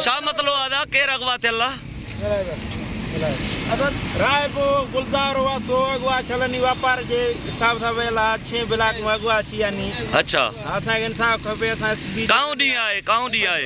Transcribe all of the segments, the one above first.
ڇا مطلو آ دا ڪير اغوا ٿيل آ. راء پو گلزار هئا سو اغوا ٿيل اني واپار جي حساب سان ويل آ ڇهين بلاڪ مان اغوا ٿي اني اڇا اسان کي انصاف کپي اسان ايس پي ڪاون ڏينهن آهي ڪاون ڏينهن آهي.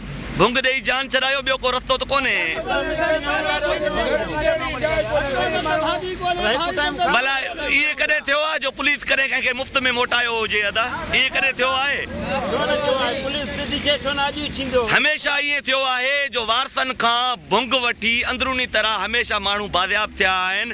ڀونگ ڏيئي جان ڇڏايو ٻيو ڪو رستو ته ڪونهي. ڀلا ائين ڪڏهن ٿيو آهي جو پوليس ڪڏهن ڪنهن کي مفت ۾ موٽايو هجي ادا ائين ڪڏهن ٿيو آهي. هميشه ائين ٿيو آهي جو وارثن کان ڀونگ وٺي اندروني طرح هميشه ماڻهو بازياب ٿيا آهن.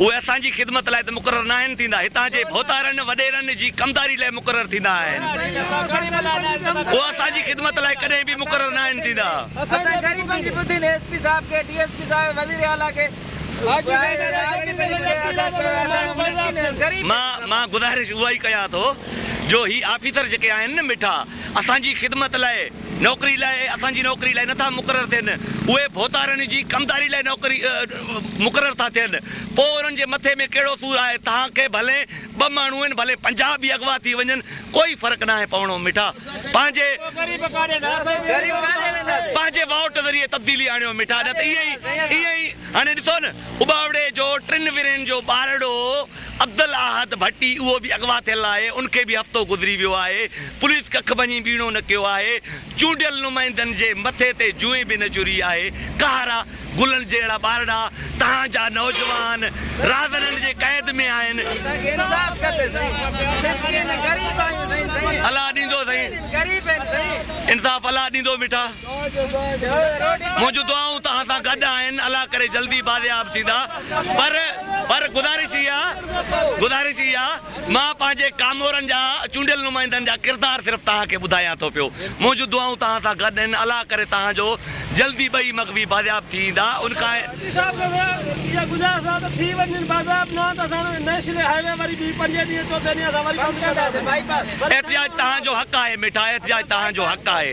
اهي اسان جي خدمت لاء ته مقرر ناهن ٿيندا، هتان جي ڀوتارن وڏيرن جي ڪمداري لاء مقرر ٿيندا آهن. اهي اسان جي خدمت لاء ڪڏهن به مقرر ناهن ٿيندا. اسان جي غريبن جي ٻڌين ايس پي صاحب کي، ڊي ايس پي صاحب ۽ وزير اعليٰ کي مان گذارش اها ئي ڪيان ٿو جو هي آفيسر جيڪي آهن نه مٺا اسان جي خدمت لاء نوڪري لاء اسان جي نوڪري لاء نٿا مقرر ٿين، اهي ڀوتارن جي ڪمداري لاء نوڪري مقرر ٿا ٿين، پوء انهن جي مٿي ۾ ڪهڙو سور آهي، توهان کي ڀلين ٻه ماڻهو آهن، ڀلين پنجاهه به اغوا ٿي وڃن، ڪوئي فرق ناهي پوڻو، مٺا پنهنجي پنهنجي وائوٽ ذريعي تبديلي آڻيو مٺا، نه ته ائين ئي ائين ئي هاڻي ڏسو نه، اٻاوڙي جو ٽن ورهين جو ٻارڙو. عبدالاحد ڀٽي اهو به اغوا ٿيل آهي، ان کي به هفتو گذري ويو آهي، پوليس ڪک ڀڃي ٻيڻو نه ڪيو آهي، چونڊيل نمائندن جي مٿي تي جونء به نه جري آهي، ڪهارا گلن جهڙا ٻارڙا توهان جا نوجوان رهزنن جي قيد ۾ آهن. اسان کي انصاف کپي سائين مسڪين غريب آهيون سائين سائين. الله ڏيندو سائين. غريب آهن سائين. انصاف الله ڏيندو مٺا. منهنجون دعائون توهان سان گڏ آهن الله ڪري جلدي بازياب ٿيندا پر پر گذارش هي آ گذارش هي آ مان پنهنجي ڪامورن جا چونڊيل نمائندن جا ڪردار صرف توهان کي ٻڌايان ٿو پيو منهنجون دعائون توهان سان گڏ آهن الله ڪري توهان جو جلدي ٻئي مغوي بازياب ٿي ايندا ان کان احتجاج توهان جو حق آهي مٺا احتجاج توهان جو حق آهي.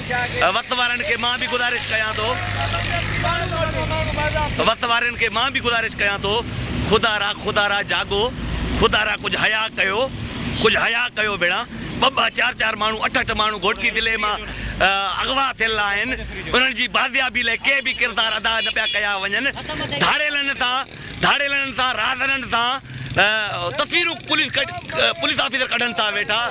وقت وارن کي مان به گذارش ڪيان ٿو وقت وارن کي مان به گذارش ڪيان ٿو خدا را خدا را جاڳو خدا را ڪجھ حيا ڪيو ڪجھ حيا ڪيو ڀيڻا ٻه ٻه چار چار ماڻهو اٺ اٺ ماڻهو گهوٽڪي ضلعي مان اغوا ٿيل آهن انهن جي بازيابي لاء ڪي به ڪردار ادا نه پيا ڪيا وڃن ڌاڙيلن سان ڌاڙيلن سان راهدارن سان تصويرون پوليس آفيسر ڪڍن ٿا ويٺا.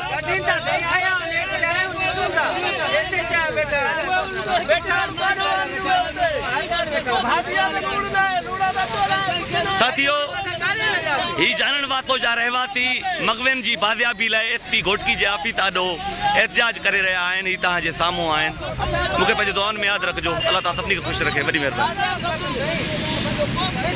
ساٿيو هي جانڻ واسو جا رهواسي مغوين جي بازيابي لاء ايس پي گهوٽڪي جي آفيس آڏو احتجاج ڪري رهيا آهن هي توهان جي سامهون آهن مون کي پنهنجي دعائن ۾ ياد رکجو الله تعالي سڀني کي خوش رکي وڏي مهرباني.